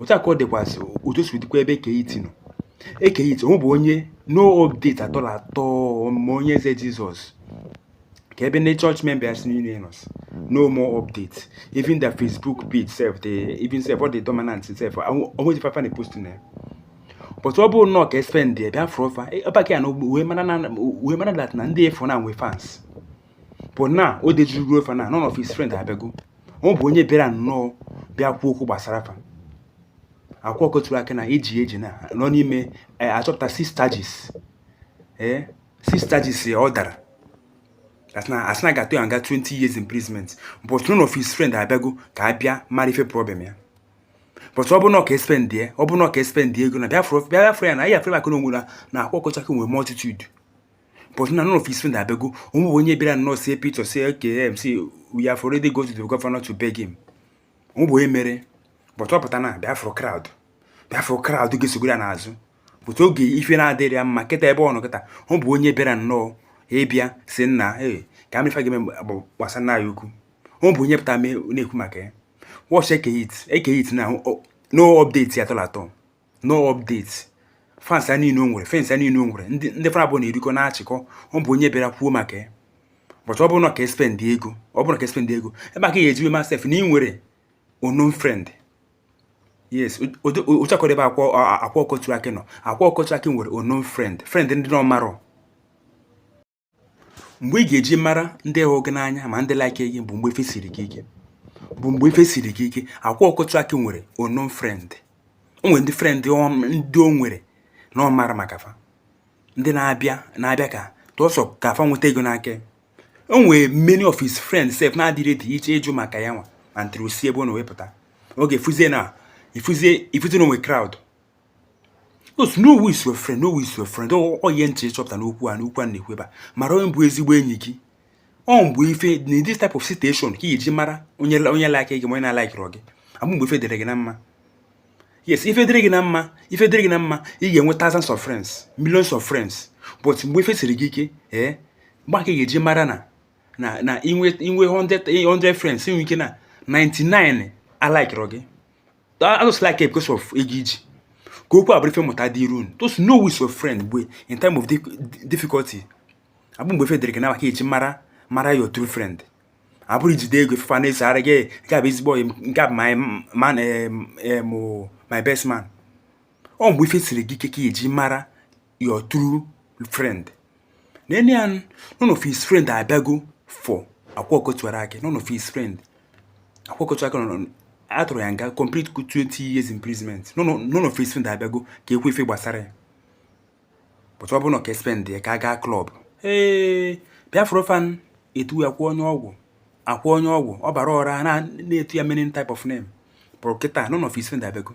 otu a ka ọ dịkwasị otu si dịkwa ebe Eke Hit nọ Eke Hit o nwebe onye no update at all at all ma Onye Eze Jizọs ka ebe ndị church members niile nọ no more update even the Facebook page sef the even sef ọ dị dominant sef o nwezi ife fa na-apost na ya but ọ bụrụ na ọ ka espend bịa fụrụ fa ọbaka ya na uwe mara dat na ndị efu na nwe fans but na o dejuru ruo fa na none of his friend abịago o nwebe onye bịara nnọọ bịa kwuo okwu gbasara fa Akwa Ọkụkọ Tiwara Akị a na-eji eji na nọ n'ime eh, achọpụta six charges ee six charges ya ọ dara That's na a sị na ga-atụ ya nga 20 years imprisonment but none of his friend abịago ka a bịa mara ife problem ya but ọ bụrụ na ọ ka espend ya ọ bụrụ na ọ ka espend ego na bịa fụrụ bịa fụrụ ya na ya fere maka na onwe na na Akwa Ọkụkọ Tiwara Akị nwere multitude but na none of his friends abịago o nwebe onye bịara nnọọ sị pụta sị okay see we have already go to the governor to beg him o nwebe onye mere but ọ pụta na bịa fụ crowd bịa fụ crowd ga-esogoro ya n'azụ but oge ife na-adịrọ ya mma kịta ebe ọ nọ kịta o nwebe onye bịara nnọọ ịbịa sị nna ee ka a ma ife a ga-eme gbasa nna ya ukwu o nwebe onye pụta na-ekwu maka ya watch Eke Hit Eke Hit now no update at all at all no update fans a niile o nwere fans a niile o nwere ndị ndị fa na abụọ na-erikọ na-achịkọ o nwebe onye bịara kwuo maka ya but ọ bụrụ na ọ ka espend ego ọ bụrụ na ọ ka espend ego ebe a ka ị ya-ejiwe ma sef na i nwere unknown friend yes ụchakọrọ ebe Akwa Akwa Ọkụkọ Tiwara Akị nọ Akwa Ọkụkọ Tiwara Akị nwere unknown friend friend ndị na ọ marọ mgbe ị ga-eji mara ndị hụ gị n'anya ma ndị like gị bụ mgbe ife siri gị ike bụ mgbe ife siri gị ike Akwa Ọkụkọ Tiwara Akị nwere unknown friend o nwere ndị friend ndị o nwere na ọ marọ maka fa ndị na-abịa na-abịa ka tụọsọ ka fa nweta ego n'aka o nwere many of his friends sef na-adịrọdị eche ịjụ maka ya nwa ma ntịrị osi ebe ọ na-ewepụta oge ị fụzie na ị fụzie ị fụzie na o nwe crowd Because know who is your friend, know who is your friend. Ọ oh, ihe m chọpụta n'okwu a n'okwu a na-ekwu ebe a mara onye bụ ezigbo enyi gị ọ mgbe ife in this type of situation ka i ji mara onye onye like gị ma onye na-alikerọ gị abụ mgbe ife dịrị gị na mma yes ife dịrị gị na mma ife dịrị gị na mma ị ga-enwe thousands of friends millions of friends but mgbe ife siri gị ike ee eh, mgbe a ka ị ga-eji mara na na na i nwee i nwee 100 friends o nwe ike na 99 alikerọ gị Fa just like gị because of ego i ji. Ka okwu a bụrụ ife mmụta dịrị unu. Just know who is your friend bụ in time of difficulty. Abụ mgbe ife dịrị gị na mma ka e ji mara mara your true friend. Abụ i jide ego fa na-asịrị gị nke a bụ ezigbo ọyị nke a bụ my man eh, eh, my best man. Ọ mgbe ife siri gị ike ka e ji mara your true friend nene ya none of his friend abịago for akwa ọkụkọ tiwara akị none of his friend akwa ọkụkọ tiwara akị a tụrụ ya nga complete 20 years imprisonment none of his friend abịago ka e kwue ife gbasara ya but ọ bụrụ na ka espend ya ka a gaa club ị bịa fụrụ fa na-etu ya akwa onye ọgwụ akwa onye ọgwụ ọ bara ọra na-etu ya many type of name but kịta none of his friend abịago